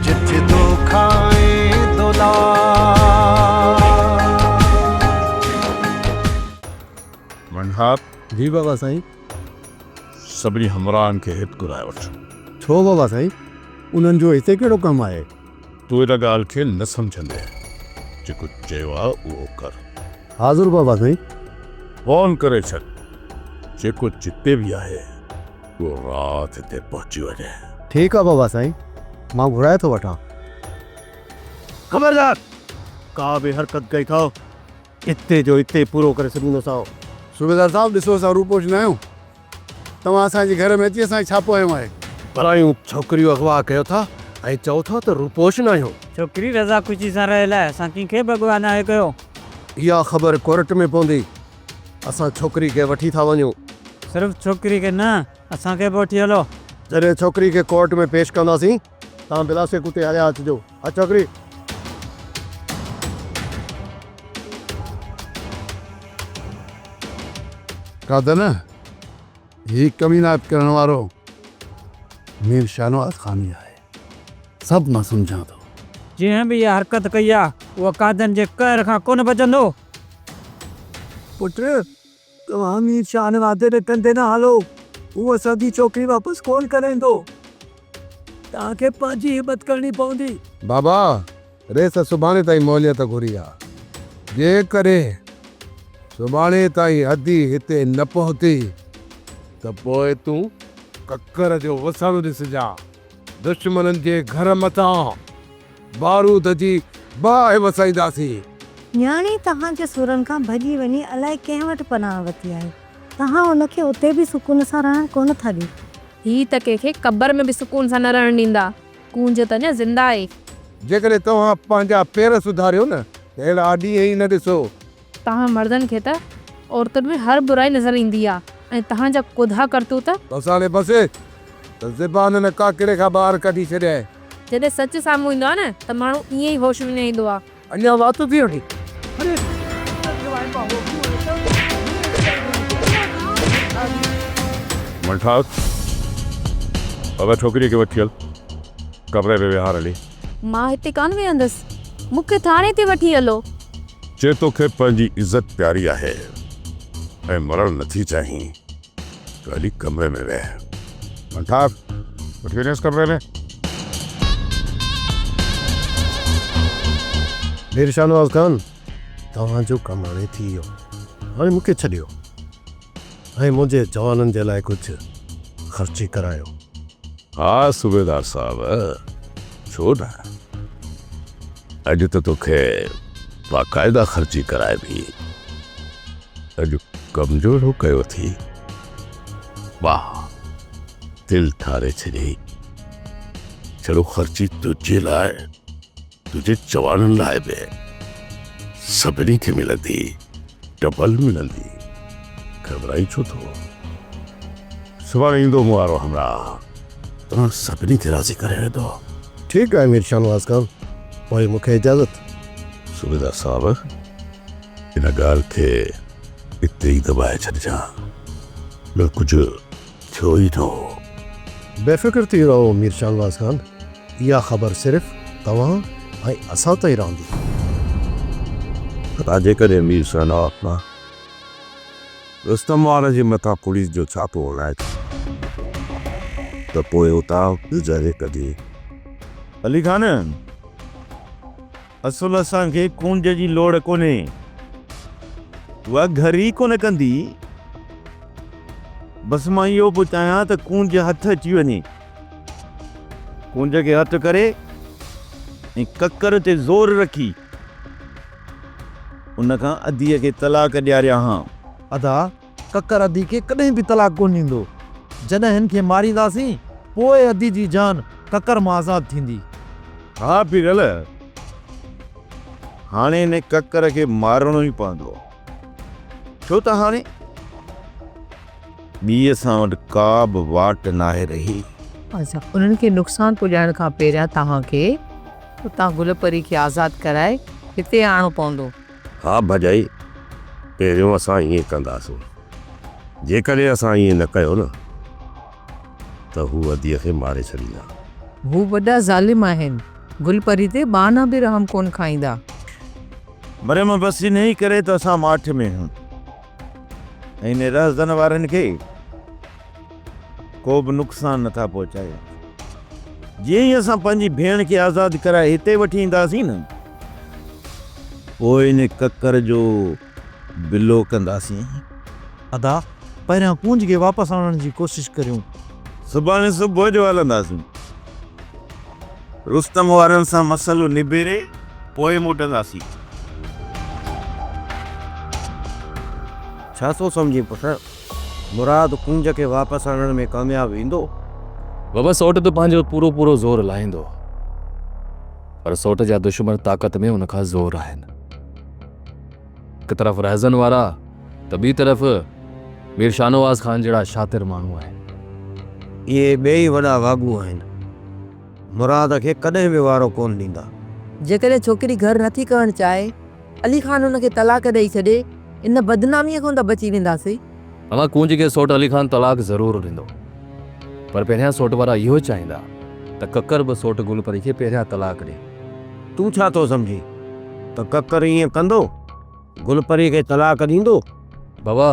جت دوکا ۽ دولار. ون هاپ. جي بابا سائين. سڀني همراهن کي هت گهرائي وٺ. ڇو بابا سائين انهن جو هتي ڪهڙو ڪم آهي. تون ان ڳالهه کي نه سمجهندين جيڪو چيو آهي اهو ڪر. حاضر بابا سائين. فون ڪري ڇڏ جيڪو جتي به آهي. تون رات هتي پهچي وڃ. ٺيڪ آ بابا سائين مان گهرائي ٿو وٺان. خبردار! ڪا به حرڪت ڪئي ٿؤ اتي جو اتي پورو ڪري ڇڏيندوسائو. صوبيدار صاحب ڏسو اسان روپوش نه آهيون توهان اسان جي گهر ۾ اچي اسان کي ڇاپو هنيو آهي. پرايون ڇوڪريون اغوا ڪيو ٿا ۽ چئو ٿا ته روپوش نه آهيون. ڇوڪري رضا خوشي سان رهيل آهي اسان ڪنهن کي به اغوا ناهي ڪيو. اها خبر ڪورٽ ۾ پوندي. اسان ڇوڪري کي وٺي ٿا وڃون. صرف ڇوڪري کي نه اسان کي به وٺي هلو. جڏهن ڇوڪري کي ڪورٽ ۾ پيش ڪنداسين توهان بلاشڪ اتي هليا اچجو. ها ڇوڪري. قادر نه هي ڪمينات ڪرڻ وارو مير شاهنواز خان ئي آهي. سڀ مان سمجهان ٿو. جنهن به اها حرڪت ڪئي آ، اهو قاعدن جي قهر کان ڪونه بچندو. پٽ، توهان مير شاهنوازي جي ڪنڌي نه هالو، هو اسان جي ڇوڪري واپس ڪونه ڪرائيندو. توهان کي پنهنجي همت ڪرڻي پوندي. بابا، ريس سڀاڻي تائين موليت گهري آ، جيڪڏهن سڀاڻي تائين ادي هتي نه پهتي ته پوء تون ڪڪر جو وسڻ ڏسجان، دشمنن جي گهر مٿان بارود جي باهه وسائينداسين. نياڻي توهان جي سورن کان ڀڄي وڃي الائي ڪنهن وٽ پناهه ورتي آهي، توهان ان کي اتي به سڪون سان رهڻ ڪونه ٿا ڏيو. هي ته ڪنهن کي قبر ۾ به سڪون سان نه رهڻ ڏيندا. ڪونج ته اڃا زنده آهي. جيڪڏهن توهان پنهنجا پير سڌاريو نه ته اهڙا ڏينهن ئي نه ڏسو. توهان مردن کي ته عورتن ۾ هر برائي نظر ايندي آهي ۽ توهان جا ڪوڌا ڪرتوت. بس هاڻي بس ته زبان هن ڪاڪڙي کان ٻاهر ڪڍي ڇڏيائين. جڏهن سچ سامهون ايندو آهي نه ته ماڻهو ائين ئي هوش وڃائيندو آهي. اڃا وات ٿي وٺي. منٺاس اگر ڇوڪري کي وٺي هل ڪمري ۾ ويهار هلي. مان هتي ڪانه ويهندس مون کي ٿاڻي تي وٺي هلو. چي توکي پنهنجي عزت پياري آهي ۽ مرڻ نٿي چاهين. ڪالي ڪمري ۾ ويهه منٽاف وٺي وڃيس ڪمري ۾. مير شاهنواز خان توهان جو ڪم هاڻي ٿي ويو هاڻي مون کي ڇڏيو ۽ منهنجي جوانن جي لاء ڪجهه خرچي ڪرايو. ها صوبيدار صاحب ڇو نه اڄ ته توکي باقاعده خرچي ڪرائبي اڄ ڪمزورو ڪيو اٿئي. واهه دل ٺاري ڇڏيئي. جھڙو خرچي تنهنجي لاء تنهنجي چواڻن لاء به سڀني کي ملندي ڊبل ملندي. گھٻرائين ڇو ٿو. سڀاڻي ايندو مون وارو همراهه توهان سڀني کي راضي ڪري ويندو. ٺيڪ آهي مير شاهنواز خان پوء مون کي اجازت. صوبيدار صاحب! ان ڳالهه کي اتي ئي دٻائي ڇڏجان، ٻيو ڪجهه ٿيو ئي نه هو. بي فڪر ٿي رهو مير شاهنواز خان، اها خبر صرف توهان ۽ اسان تائين رهندي. ڀلا جيڪڏهن مير شاهنواز خان رستم وارن جي مٿان پوليس جو ڇاپو هلائي ٿو ته پوء اتان گذري ڪڍي. علي خان! اصل اسان کي ڪونج جي لوڙ ڪونهي. اها گهر ئي ڪونه ڪندي. بس مان اهو پيو چاهيان ته ڪونج هٿ اچي وڃي. ڪونج کي هٿ ڪري ۽ ڪڪر تي زور رکي ان کان اديء کي طلاق ڏياريان ها. ادا! ڪڪر ادي کي ڪڏهن به طلاق ڪونه ڏيندو. جڏهن هن کي مارينداسين، پوء ادي جي جان ڪڪر مان آزاد ٿيندي. ها پيرل، هاڻي هن ڪڪر کي مارڻو ئي پوندو، ڇو ته هاڻي ٻي اسان وٽ ڪا به واٽ ناهي رهي. اسان انهن کي نقصان پڄائڻ کان پهريان توهان کي اتان گل پري کي آزاد ڪرائي هتي آڻڻو پوندو. ها ڀڄائي، پهريون اسان ائين ڪنداسون. جيڪڏهن اسان ائين نه ڪيو نه ته هو اديء کي ماري ڇڏيندا. هو وڏا ظالم آهن. گل پري تي ٻانهن به رحم ڪونه کائيندا. مريم، بس انهيء ڪري ته اسان ماٺ ۾ آهيون. ۽ رهزن وارن کي ڪو به نقصان نه ٿا پهچايو. جيئن ئي اسان پنهنجي ڀيڻ کي آزاد ڪرائي هتي وٺي اينداسين نه، پوء ان ڪڪر جو بلو ڪنداسين. ادا، پهريان ڪونج کي واپس آڻڻ جي ڪوشش ڪريون. سڀاڻي صبح جو هلنداسين. رستم وارن سان مسئلو نبيري پوء موٽنداسين. ڇا ٿو سمجهين پٽ؟ مراد ڪونج کي واپس آڻڻ ۾ ڪامياب ويندو؟ بابا سئوٽ ته پنهنجو پورو پورو زور لاهيندو پر سئوٽ جا دشمن طاقت ۾ ان کان زور آهن. هڪ طرف رهزن وارا ته ٻي طرف مير شاهنواز خان جهڙا شاطر ماڻهو آهن. اهي ٻئي ئي وڏا واڳو آهن. مراد کي ڪڏهن به وارو ڪونه ڏيندا. جيڪڏهن ڇوڪري گهر نٿي ڪرڻ چاهي، علي خان هن کي طلاق ڏئي ڇڏي، ان بدناميء کان ته بچي وينداسين. اوهان ڪونج کي سوٽ علي خان طلاق ضرور ڏيندو پر پهريان سوٽ وارا اهو چاهيندا ته ڪڪر به سوٽ گل پري کي پهريان طلاق ڏي. تون ڇا ٿو سمجهين ته ڪڪر ائين ڪندو؟ گل پري کي طلاق ڏيندو؟ بابا،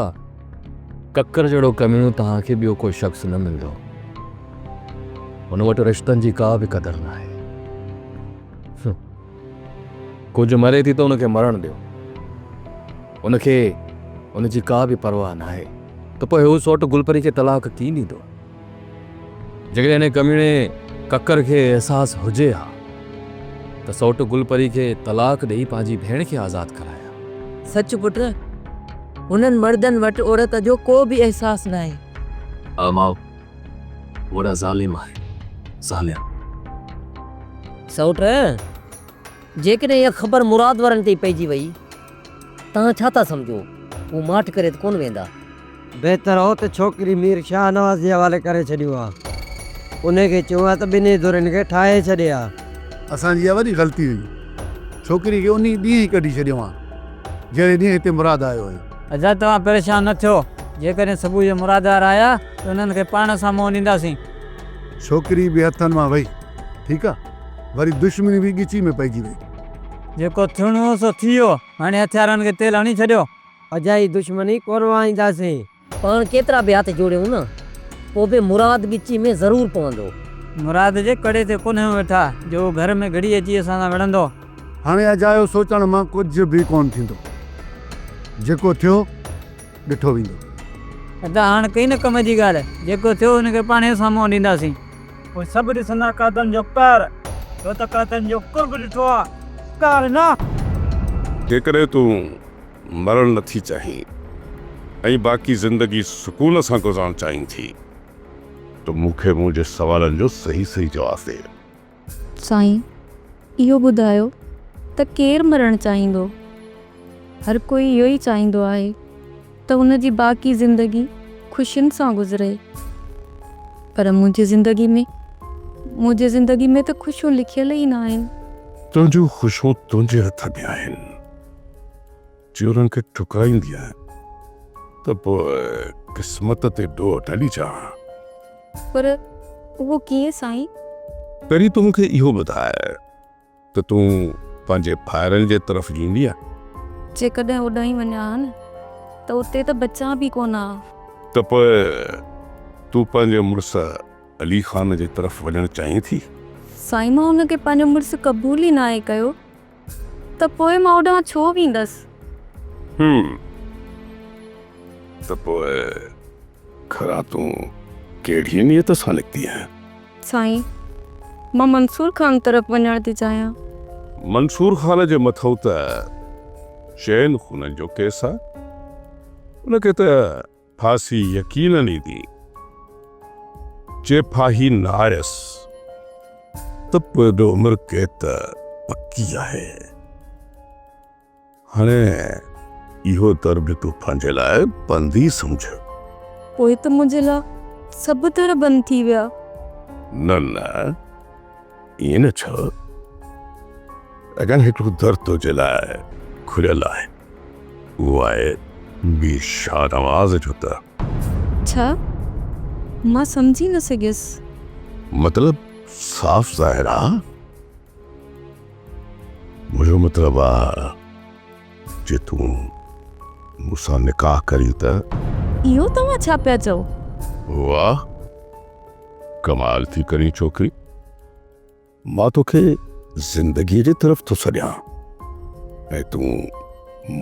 ڪڪر جهڙو ڪميڻو توهان کي ٻيو ڪو شخص نه ملندو. هن وٽ رشتن جي ڪا به قدر ناهي. ڪونج مري ٿي ته ان کي مرڻ ڏيو. ان کي ان جي ڪا به پرواهه ناهي ته پوء هو سوٽ گلپري کي طلاق ڪين ڏيندو. جيڪڏهن انهيء ڪميڻي ڪڪر کي احساس هجي ها ته سوٽ گلپري کي طلاق ڏيئي پنهنجي ڀيڻ کي آزاد ڪرائي ها. سچ پٽ، هنن مردن وٽ عورت جو ڪو به احساس ناهي. ها ماء، وڏا ظالم آهن، ظالم. سوٽ، جيڪڏهن اها خبر مراد وارن تائين پئجي وئي. توهان ڇا ٿا سمجهو؟ هو ماٺ ڪري ته ڪونه ويندا؟ بهتر هو ته ڇوڪري مير شاهنواز جي حوالي ڪري ڇڏيون ها. انهي کي چئون ها ته ٻنهي ڌرين کي ٺاهي ڇڏي ها. اسان جي اها وڏي غلطي هئي. ڇوڪري کي انهي ڏينهن ئي ڪڍي ڇڏيون ها، جهڙي ڏينهن هتي مراد آيو هيو. حضرت توهان پريشان نه ٿيو. جيڪڏهن صبح جو مراددار آيا ته انهن کي پاڻ اسان منهن ڏينداسين. ڇوڪري به هٿن مان وئي. ٺيڪ آ. وري دشمني به ڳچي ۾ پئجي وئي. جيڪو ٿيڻو هو سو ٿي ويو. هاڻي هٿيارن کي تيل هڻي ڇڏيو. اجائي دشمني ڪونه وهائينداسين. پاڻ ڪيترا به هٿ جوڙيون نه. پوء به مراد ڳچي ۾ ضرور پوندو. مراد جي ڪڙي تي ڪونه ويٺا. جو هو گهر ۾ گهڙي اچي اسان سان وڙهندو. هاڻي اجايو سوچڻ مان ڪجهه به ڪونه ٿيندو. جيڪو ٿيو ڏٺو ويندو. ادا هاڻ ڪئي نه ڪم جي ڳالهه. جيڪو ٿيو ان کي پاڻهي سامهون آڻينداسين. پوء سڀ ڏسندا قاتن جو قهر، تو ته قاتن جو قرب ڏٺو آ، قهر نه! جيڪڏهن تون مرڻ نه ٿي چاهين ۽ باقي زندگي سڪون سان گذارڻ چاهين ٿي ته مون کي منهنجي سوالن جو صحيح صحيح جواب ڏي. سائين اهو ٻڌايو ته ڪير مرڻ چاهيندو؟ هر ڪوئي اهو ئي چاهيندو آهي. ته هن جي باقي زندگي خوشين سان گذري پر منهنجي زندگي ۾ منهنجي زندگي ۾ ته خوشيون لکيل ئي ناهن. تنهنجون خوشيون تنهنجي هٿ ۾ آهن جي انهن کي ٺڪرائيندينء ته پوء قسمت تي ڏوهه نه ڏجانء. پر اهو ڪيئن سائين؟ پهرين تون مون کي اهو ٻڌاء. ته تون پنهنجي ڀائرن جي طرف ايندينء؟ جيڪڏهن اوڏانهن وڃان ها نه ته اتي ته بچان به ڪونه ها. ته پوء تون پنهنجي مڙس علي خان جي طرف وڃڻ چاهين ٿي؟ سائين مان ان کي پنهنجو مڙس قبول ئي ناهي ڪيو ته پوء مان اوڏانهن ڇو ويندس؟ هم! ته پوء گهران تون ڪهڙيء نيت سان نڪتينء؟ سائين! مان منصور خان طرف وڃڻ ٿي چاهيان. منصور خان جي مٿئون ته چئن خونن جو ڪيس آ. ان کي ته ڦاسي يقينن ايندي. جي ڦاهي نه آيس ته پوء به عمر قيد ته پڪي آهي. هاڻي اهو در به تون پنهنجي لاء بند ئي سمجهه. پوء ته منهنجي لاء سڀ در بند ٿي ويا. نه نه ائين نه چئو. اڳيان هڪڙو در تنهنجي لاء کليل آهي. اهو آهي مير شاهنواز جو در. ڇا؟ مان سمجهي نه سگهيس. مطلب صاف ظاهر آ. منهنجو مطلب آ جي تون مون سان نڪاح ڪرين ته. اهو توهان ڇا پيا چئو؟ واهه ڪمال ٿي ڪرين ڇوڪري. مان توکي زندگي جي طرف ٿو سڏيان ۽ تون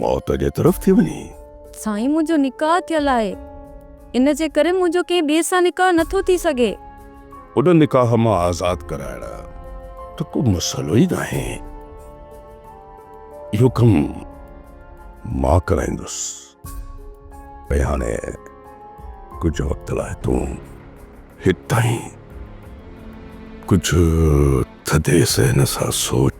موت جي طرف ٿي وڃين. سائين منهنجو نڪاح ٿيل آهي ان جي ڪري منهنجو ڪنهن ٻئي سان نڪاح نٿو ٿي سگهي. ان نڪاح مان آزاد ڪرائڻ ته ڪو مسئلو ئي ناهي. اهو ڪم مان ڪرائيندس. ۽ هاڻي ڪجهه وقت لاء تون هتان ڪجهه ٿڌي ذهن سان سوچ.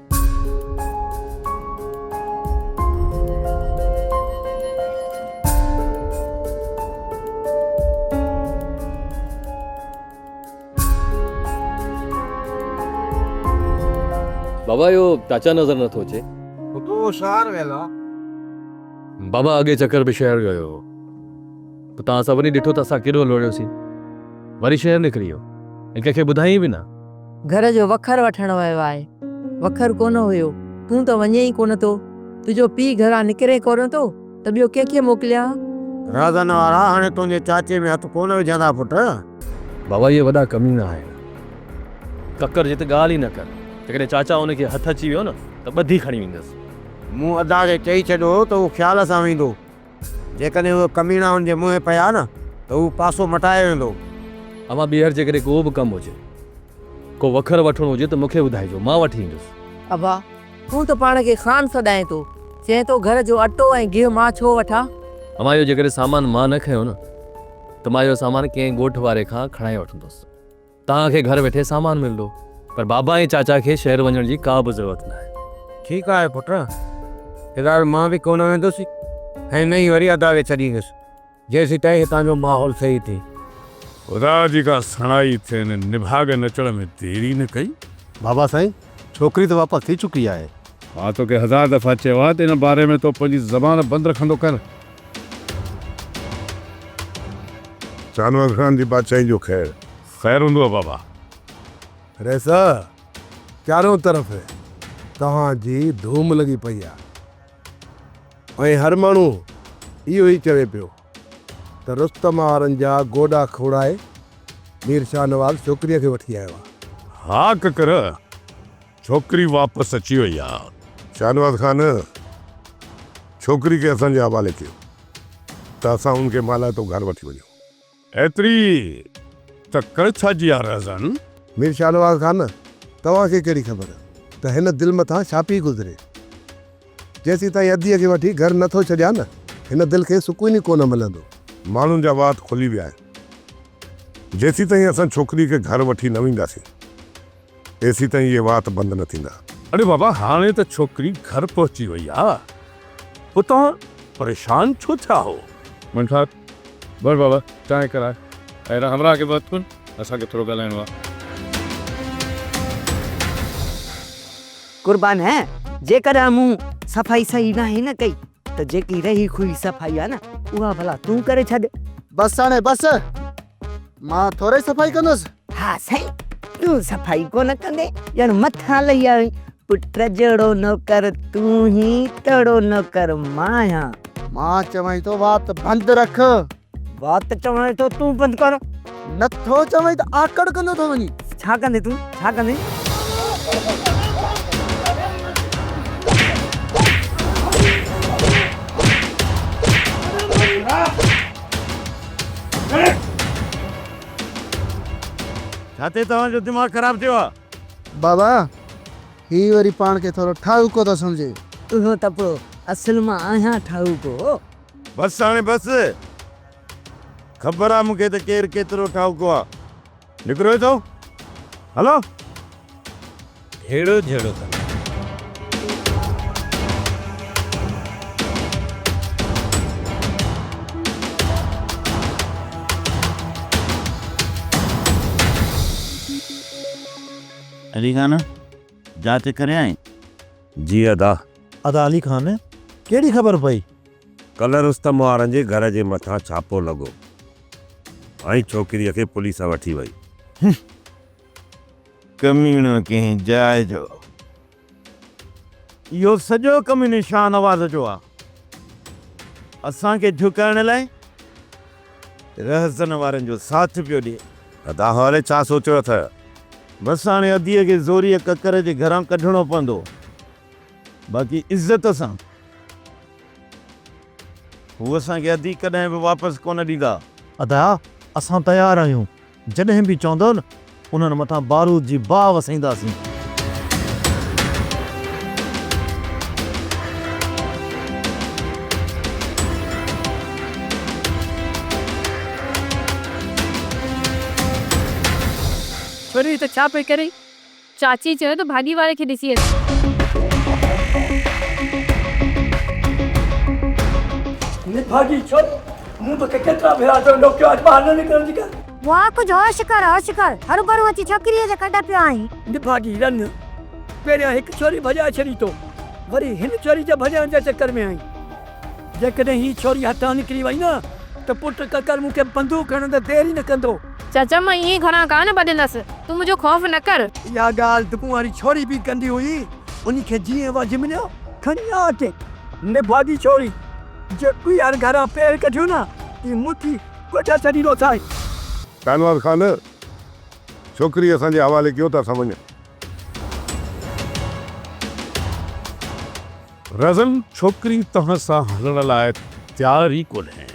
بابا اهو چاچا نظر نه ٿو اچي. پٽو شهر ويل آ. بابا اڳي چڪر به شهر ويو هو. پوء توهان سڀني ڏٺو ته اسان ڪيڏو لوڙهيوسين. وري شهر نڪري ويو ۽ ڪنهن کي ٻڌايائين به نه. گهر جو وکر وٺڻ ويو آهي. وکر ڪونه هيو. تون ته وڃين ئي ڪونه ٿو. تنهنجو پيء گهران نڪري ڪونه ٿو ته ٻيو ڪنهن کي موڪليان؟ رازن وارا هاڻي تنهنجي چاچي ۾ هٿ ڪونه وجهندا پٽ. بابا اهي وڏا ڪمينا آهن. ڪڪر جي ته ڳالهه ئي نه ڪر. جيڪڏهن چاچا ان کي هٿ اچي ويو نه ته ٻڌي کڻي ويندس. مون ادا کي چئي ڇڏيو هو ته هو خيال سان ويندو. جيڪڏهن اهي ڪميڻا ان جي منهن پيا نه ته هو پاسو مٽايو ويندو. اوهان ٻيهر جيڪڏهن ڪو به ڪم هجي، ڪو وکر وٺڻو هجي ته مون کي ٻڌائجو، مان وٺي ايندس. ابا، تون ته پاڻ کي خان سڏائين ٿو، چئين ٿو گهر جو اٽو ۽ گيهه مان ڇو وٺان؟ اوهان اهو جيڪڏهن سامان مان نه کنيو نه ته مان اهو سامان ڪنهن ڳوٺ واري کان کڻائي وٺندس. توهان کي گهر ويٺي سامان ملندو پر بابا ۽ چاچا کي شهر وڃڻ جي ڪا به ضرورت ناهي. ٺيڪ آهي پٽ، فلحال مان به ڪونه ويندس ۽ نه ئي وري ادا کي ڇڏيندس جيسيتائين هتان جو ماحول صحيح ٿئي. خدا جي ڪا سڻائي ٿين نڀاڳن اچڻ ۾ دير ئي نه ڪئي. بابا سائين، ڇوڪري ته واپس ٿي چڪي آهي. مان توکي هزار دفعا چيو آهي ته ان باري ۾ تو پنهنجي زبان بند رکندو ڪر. شاهنواز خان جي بادشاهي جو خير. خير هوندو آ بابا. رئيسه! چارئون طرف توهان جي ڌوم لڳي پئي آ ۽ هر ماڻهو اهو ئي چوي پيو ته رستم آرن جا گوڏا کوڙائي مير شاهنواز ڇوڪريء کي وٺي آيو آ. ها ڪڪر! ڇوڪري واپس اچي وئي آ. شاهنواز خان ڇوڪري کي اسان جي حوالي ڪيو ته اسان ان کي مالهائتو گهر وٺي وڃون. ايتري ته ڪر ڇا جي آ رهزن. مير شاهنواز خان توهان کي ڪهڙي خبر ته هن دل مٿان ڇا پي گذري. جيسيتائين اديء کي وٺي گهر نه ٿو ڇڏيان هن دل کي سڪون ئي ڪونه ملندو. ماڻهن جا وات کلي ويا آهن. جيسيتائين اسان ڇوڪري کي گهر وٺي نه وينداسين. تيسين تائين اهي وات بند نه ٿيندا. اڙي بابا هاڻي ته ڇوڪري گهر پهچي وئي آ پوء توهان پريشان ڇو ٿيا هئو. منفات، ور بابا چانهه ڪراء ۽ هن همراهه کي به هٿ ڪن اسان کي ٿورو ڳالهائڻو آ. قربان هه جيڪڏهن مون صفائي صحيح ناهي نه ڪئي. ته جيڪي رهي کهي صفائي آ نه اها ڀلا تون ڪري ڇڏ. بس ساڻي بس مان ٿورئي صفائي ڪندس. ها سائين تون صفائي ڪونه ڪندين ڄڻ مٿان لهي آيو آهين. پٽ جهڙو نوڪر تون هين تهڙو نوڪر مان آهيان. مان چوانء ٿو وات بند رک. وات چوان ٿو تون بند ڪر. نه ٿو چوين ته آڪڙ ڪندو ٿو وڃين. ڇا ڪندين تون ڇا ڪندين. ڇاتي توهان جو دماغ خراب ٿيو آ. بابا هي وري پاڻ کي ٿورو ٺاهوڪو ٿو سمجهي. اهو ته پوء اصل مان آهيان ٺاهوڪو. بس هاڻي بس. خبر آ مون کي ته ڪير ڪيترو ٺاهوڪو آ. نڪرو هتو. هلو. هيڙو جهيڙو ٿن. علي خان جاچ ڪريائين؟ جي ادا. ادا علي خان ڪهڙي خبر پئي. ڪلهه رستم وارن جي گهر جي مٿان ڇاپو لڳو ۽ ڇوڪريء کي پوليس وٺي وئي. هم ڪميڻو ڪنهن جاء جو آ. اهو سڄو ڪم ان شاهنواز جو آ. اسان کي جهڪائڻ لاء. رهزن وارن جو ساٿ پيو ڏي. ادا هالي ڇا سوچيو اٿئه؟ بس هاڻي اديء کي زوريء ڪڪر جي گهران ڪڍڻو پوندو، باقي عزت سان. هو اسان کي ادي ڪڏهن به واپس ڪونه ڏيندا. ادا اسان تيار آهيون. جڏهن به چوندؤ نه انهن مٿان بارود جي باهه وسائينداسين. پرين ته ڇا پئي ڪرين؟ چاچي چيو ته ڀاڄي واري کي ڏسي اچ. ني ڀاڄي ڇڏ، مون توکي ڪيترا ڀيرا چيو هوندو ڪيو اڄ ٻاهر نه نڪرڻ جي ڳالهه. واء ڪجهه هوش ڪر هوش ڪر. هروڀرو اچي ڇوڪريء جي ڪڍ پيو آهين. ني ڀاڄي رن، پهريان هڪ ڇوري ڀڄائي ڇڏي تو وري هن ڇوري جي ڀڄائڻ جي چڪر ۾ آهين. جيڪڏهن هي ڇوري هتان نڪري وئي نه ته پٽ ڪڪر مون کي بندوق هڻڻ ۾ دير ئي نه ڪندو. چاچا مان ائين گهڻا ڪانه ڀڄندس، تون منهنجو خوف نه ڪر. اها ڳالهه دٻون واري ڇوري به ڪندي هئي، انهي کي جيئن وجهه مليو کڻي آ اچي. نڀاڳي ڇوري، جي ٻيهر گهران پير ڪڍيو نه ته مون ٿي ڳوٺ ڇڏيندو سائين. شاهنواز خان، ڇوڪري اسان جي حوالي ڪيو ته اسان وڃون. رزن ڇوڪري توهان سان هلڻ لاء تيار ئي ڪونهي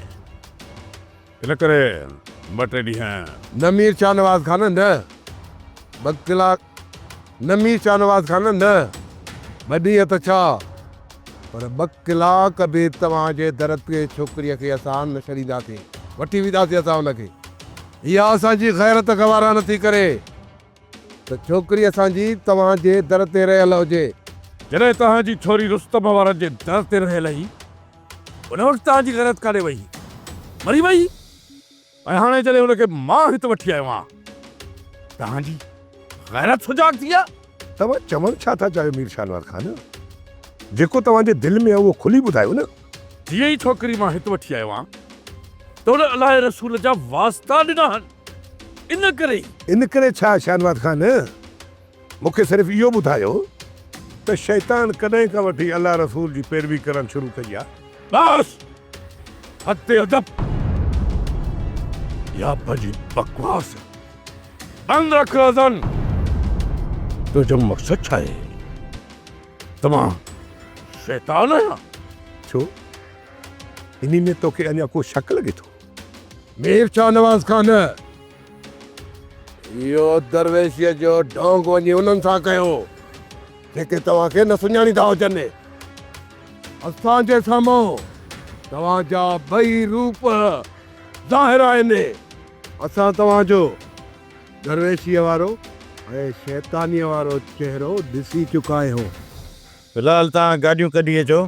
ان ڪري ٻه ٽي ڏينهن. نه مير شاهنواز خان نه ٻه ڪلاڪ نه مير شاهنواز خان نه ٻه ڏينهن ته ڇا پر ٻه ڪلاڪ به توهان جي در تي ڇوڪريء کي اسان نه ڇڏينداسين وٺي وينداسين اسان ان کي اها اسان جي غيرت گوارا نٿي ڪري. ته ڇوڪري اسان جي توهان جي در تي رهيل هجي. جڏهن توهان جي ڇوري رستم وارن جي در تي رهيل هئي، ان وقت توهان جي غيرت ڪاڏي وئي هئي؟ مري وئي هئي؟ ۽ هاڻي جڏهن ان کي مان هت وٺي آيو آهيان، توهان جي غيرت سجاڳ ٿي آهي؟ توهان چوڻ ڇا ٿا چاهيو مير شاهنواز خان؟ جيڪو توهان جي دل ۾ آهي اهو کلي ٻڌايو نه. جيئن ئي ڇوڪري مان هت وٺي آيو آهيان، ته ان الله جي رسول جا واسطا ڏنا هن. ان ڪري ئي. ان ڪري ڇا شاهنواز خان مون کي صرف اهو ٻڌايو ته شيطان ڪڏهن کان وٺي الله رسول جي پيروي ڪرڻ شروع ڪئي آ؟ بس! حد ادب يا پنهنجي بڪواس بند رک رزان! تنهنجو مقصد ڇا آهي؟ ته مان شيطان آهيان؟ ڇو؟ انهي ۾ توکي اڃا ڪو شڪ لڳي ٿو؟ مير شاهنواز کان نه، اهو درويشيء جو ڍونگ وڃي انهن سان ڪيو، جيڪي توهان کي نه سڃاڻيندا هجن. اسان جي سامهون توهان جا ٻئي روپ ظاهر آهن. اسان توهان جو درويشيء وارو ۽ شيطانيء وارو چهرو ڏسي چڪا آهيون. في الحال توهان گاڏيون ڪڍي اچو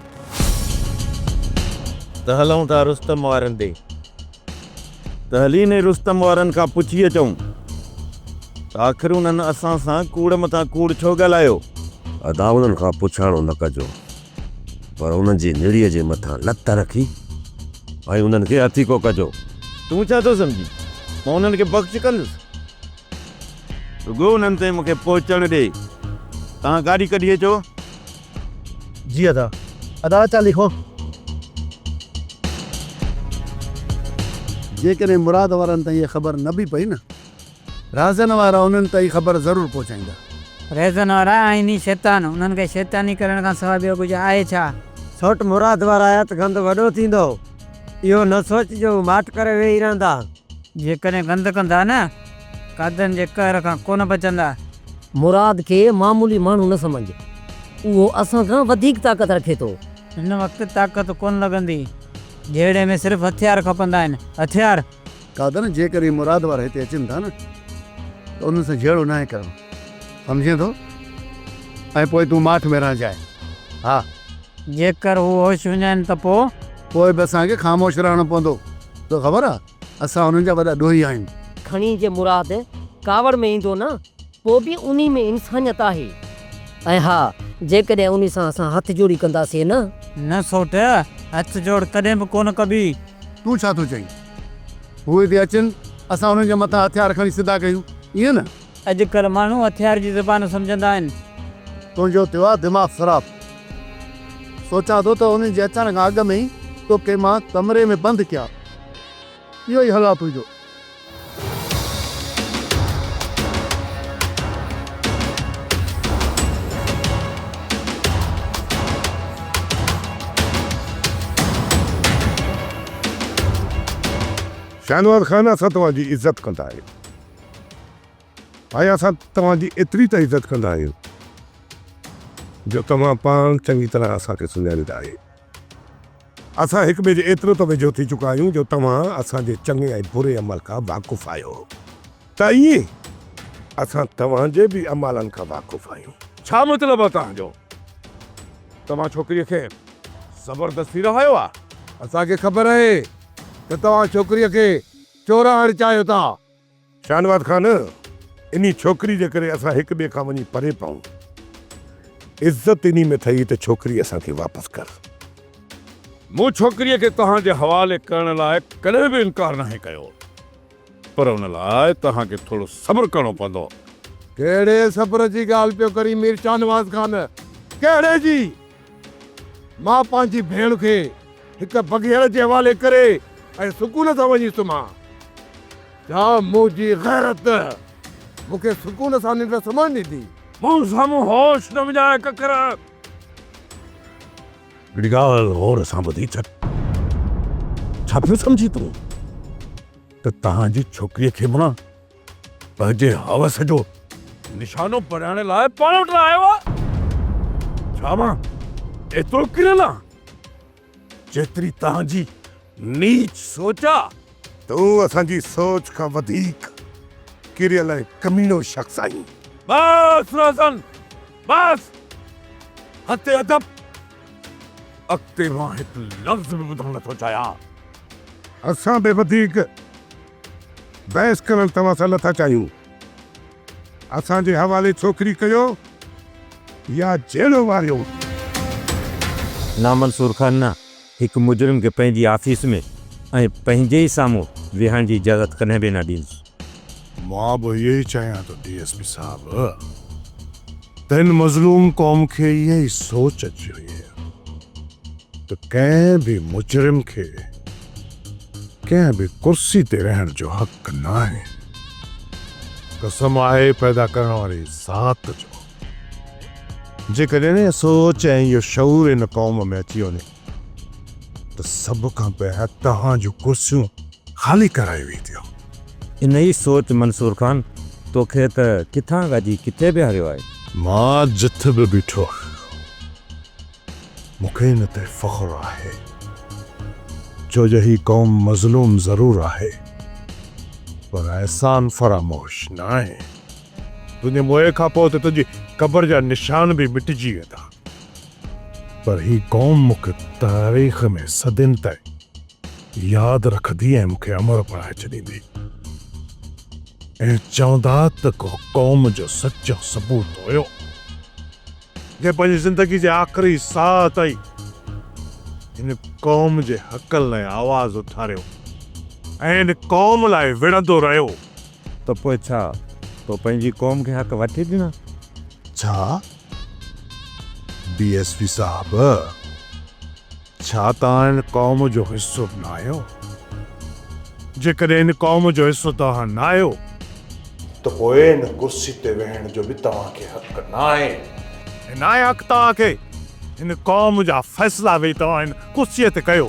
ته هلون ٿا رستم وارن ڏي ته هلين ئي رستم وارن کان پڇي اچون ته آخر انهن اسان سان ڪوڙ مٿان ڪوڙ ڇو ڳالهايو. ادا انهن کان پڇاڻو نه ڪجو پر انهن جي نڙيء جي مٿان لت رکي ۽ انهن کي هٿيڪو ڪجو. تون ڇا ٿو سمجهين مان انهن کي بخش ڪندس. رڳو انهن تائين مون کي پهچڻ ڏي. توهان گاڏي ڪڍي اچو. جي ادا. ادا اچان ٿي خون. جيڪڏهن مراد وارن تائين اها خبر نه به پئي نه. رهزن وارا انهن تائين خبر ضرور پهچائيندا. رهزن وارا آهن ئي شيطان. انهن کي شيطاني ڪرڻ کان سواء ٻيو ڪجهه آهي ڇا؟ سؤٽ مراد وارا آيا ته گند وڏو ٿيندو. اهو نه سوچ جو هو ماٺ ڪري ويهي رهندا. جيڪڏهن گند ڪندا نه، قاضين جي قهر کان ڪونه بچندا. مراد کي معمولي ماڻهو نه سمجهه، اهو اسان کان وڌيڪ طاقت رکي ٿو. هن وقت طاقت ڪونه لڳندي، جهيڙي ۾ صرف هٿيار کپندا آهن، هٿيار! قادر، جيڪڏهن مراد وارا هتي اچن ٿا نه ته انهن سان جهيڙو ناهي ڪرڻو، سمجهين ٿو؟ ۽ پوء تون ماٺ ۾ رهجانء. ها. جيڪر هو هوش هجن ها ته پوء؟ پوء به اسان کي خاموش رهڻو پوندو. تو خبر آهي، اسان انهن جا وڏا ڏوهي آهيون. کڻي جي مراد ڪاوڙ ۾ ايندو نه پوء به انهي ۾ انسانيت آهي ۽ ها جيڪڏهن انهي سان اسان هٿ جوڙي ڪنداسين نه. نه سوٽ، هٿ جوڙ ڪڏهن به ڪونه ڪبي. تون ڇا ٿو چئين؟ هو هتي اچن، اسان انهن جي مٿان هٿيار کڻي سڌا ڪيون، ائين نه؟ اڄ ڪلهه ماڻهو هٿيار جي زبان سمجهندا آهن. تنهنجو ٿيو آهي دماغ خراب؟ سوچان ٿو ته انهن جي اچڻ کان اڳ ۾ ئي توکي مان ڪمري ۾ بند ڪيان. اهو ئي حالات هئي جو. شاهنواز خان اسان توهان جي عزت ڪندا آهيون ۽ اسان توهان جي ايتري ته عزت ڪندا آهيون جو توهان پاڻ چڱي طرح اسان کي سڃاڻيندا آهيون. اسان هڪ ٻئي جي ايترو ته ويجهو ٿي چڪا آهيون جو توهان اسان جي چڱي ۽ بري عمل کان واقف آهيو ته ائين اسان توهان جي به اعمالن کان واقف آهيون. ڇا مطلب آهي توهان جو؟ توهان ڇوڪريء کي زبردستي رهايو آهي؟ اسان کي خبر آهي ته توهان ڇوڪريء کي چورائڻ چاهيو ٿا. شاهنواز خان! انهي ڇوڪري جي ڪري اسان هڪ ٻئي کان وڃي پري پئون. عزت انهي ۾ اٿئي ته ڇوڪري اسان کي واپس ڪر. مون ڇوڪريء کي توهان جي حوالي ڪرڻ لاء ڪڏهن به انڪار ناهي ڪيو. پر ان لاء توهان کي ٿورو صبر ڪرڻو پوندو. ڪهڙي صبر جي ڳالهه پيو ڪرين مير شاهنواز خان! ڪهڙي جي؟ مان پنهنجي ڀيڻ کي هڪ بگهيڙ جي حوالي ڪري ۽ سڪون سان وڃي سمهان. ڇا منهنجي غيرت مون کي سڪون سان ننڊ سمهڻ ڏيندي؟ مون سامهون هوش نه وڃاء ڪڪر! هڪڙي ڳالهه غور سان ٻڌي ڇڏ. ڇا پيو سمجهين تون ته تنهنجي ڇوڪريء کي مڙان؟ پنهنجي حوس جو نشانو پرائڻ لاء پاڻ وٽ نه آيو آهي؟ ڇا مان ايترو ڪريل آهان، جيتري توهان جي نيچ سوچ آهي؟ تون اسان جي سوچ کان وڌيڪ ڪريل ۽ ڪميڻو شخص آهين. بس روزن بس! حد ادب! اڳتي مان هڪ لفظ به ٻڌڻ نه ٿو چاهيان. اسان به وڌيڪ بحث ڪرڻ توهان سان نٿا چاهيون. اسان جي حوالي ڇوڪري ڪيو يا جيلو واريو. نامنصور خان نه هڪ مجرم کي پنهنجي آفيس ۾ ۽ پنهنجي ئي سامهون ويهڻ جي اجازت ڪڏهن به نه ڏيندس. مان به اهو ئي چاهيان ٿو ڊي ايس پي صاحب ته هن مظلوم قوم کي اها ئي سوچ اچي وئي آهي ته ڪنهن به مجرم کي ڪنهن به ڪرسي تي رهڻ جو حق ناهي. قسم آهي پيدا ڪرڻ واري ذات جو. جيڪڏهن اها سوچ ۽ اهو شعور ان قوم ۾ اچي وڃي ته سڀ کان پهريان توهان جون ڪرسيون خالي ڪرايون وينديون. انهيء سوچ منصور خان توکي ته ڪٿان ڳاجي ڪٿي بيهاريو آهي. مان جٿ به بيٺو آهيان. مون کي ان تي فخر آهي ڇو جو هي قوم مظلوم ضرور آهي پر احسان فراموش ناهي. تنهنجي موئي کان پوء ته تنهنجي قبر جا نشان به مٽجي ويندا پر هي قوم مون کي تاريخ ۾ صدين تائين ياد رکندي ۽ مون کي امر بڻائي ڇڏيندي ۽ چوندا ته ڪو قوم جو سچو سپوت هيو. جنهن پنهنجي زندگي جي آخري ساهه تائين هن قوم جي حقن لاء آواز اٿاريو ۽ هن قوم لاء وڙهندو رهيو. ته پوء ڇا تو پنهنجي قوم کي حق وٺي ڏنا؟ ڇا ڊي ايس پي صاحب! ڇا توهان ان قوم جو حصو ناهيو؟ جيڪڏهن ان قوم جو حصو توهان ناهيو. ته پوء ان ڪرسي تي ويهڻ جو به توهان کي حق ناهي. ۽ ناهي حق توهان کي ان قوم جا فيصلا ويهي توهان ان ڪرسي تي ڪيو.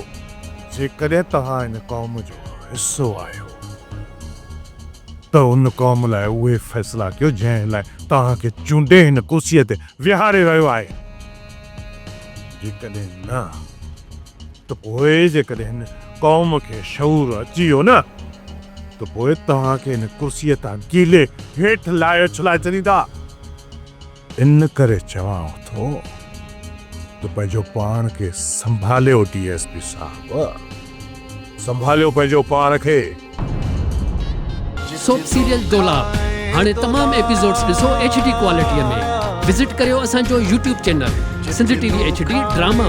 جيڪڏهن توهان ان قوم جو حصو آهيو ته ان قوم لاء اهي فيصلا ڪيو جنهن لاء توهان کي چونڊي هن ڪرسي تي ويهاري رهيو آهي. جيڪڏهن نه ته پوء جيڪڏهن هن قوم کي شعور اچي ويو نه ته پوء توهان کي هن ڪرسيء تان ڪيلي هيٺ لاهي اڇلائي ڇڏيندا. ان ڪري چوان ٿو ته پنهنجو پاڻ کي سنڀاليو ڊي ايس پي صاحب سنڀاليو پنهنجو پاڻ کي. سوپ سيريل دولاب هاڻي تمام ايپيسوڊز ڏسو ايڇ ڊي ڪوالٽي ۾ وزٽ ڪريو اسان جو YouTube channel Sindh T V H D drama.